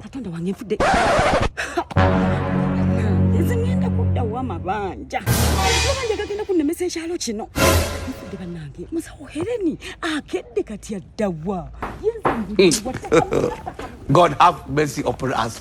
katonda wange nfudde nze ngenda kuddawo amabanja amabanja gagenda kunnemesa ekyalo kino nfudde bannange musawo hereni akedde kati addawa God have mercy upon us.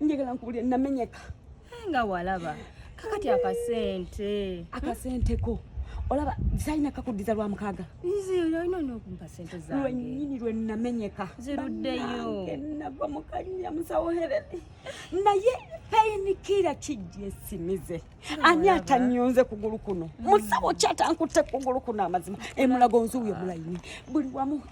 njagala nkubulire namenyeka eh, nga walaba kakati akasente akasente ko olaba zalina kakuddiza lwa mukaaga lwenyini lwe namenyeka nava mukanya musawoherere naye payini kira kijja esimize ani atanyonze kugulu kuno mm. musawo ki atankutte kugulu kuno amazima emulago nzi uyo mulayini buli wamu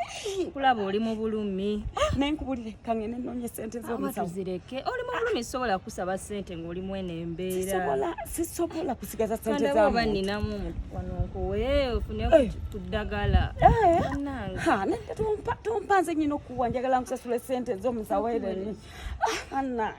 kulaba oli mu bulumi ah, naye nkubulire kangene noonye sente zomusawozireke oli mu bulumi sisobola kusaba sente ng'oli mwene embeera sisobola kusigaza sente zaoba ninamu wano nkuwe ofune eh. ku ddagala eh. tompa nze nyina okuwa njagala nkusasula sente zomusawo ereni anange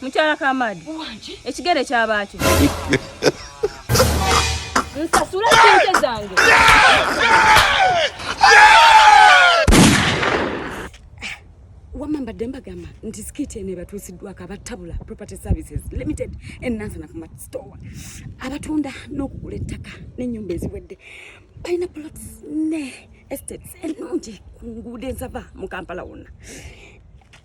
Mukyala Kamadi. Uwanji. Ekigere kyabaakyo. Nsasula sente zange. Wamma mbadde mbagamba nti sikiiti eno ebatuusiddwako abatabula property services limited enansana ku store abatunda n'okugula ettaka n'ennyumba eziwedde balina plots ne estates ennungi ku nguudo enzava mu kampala wonna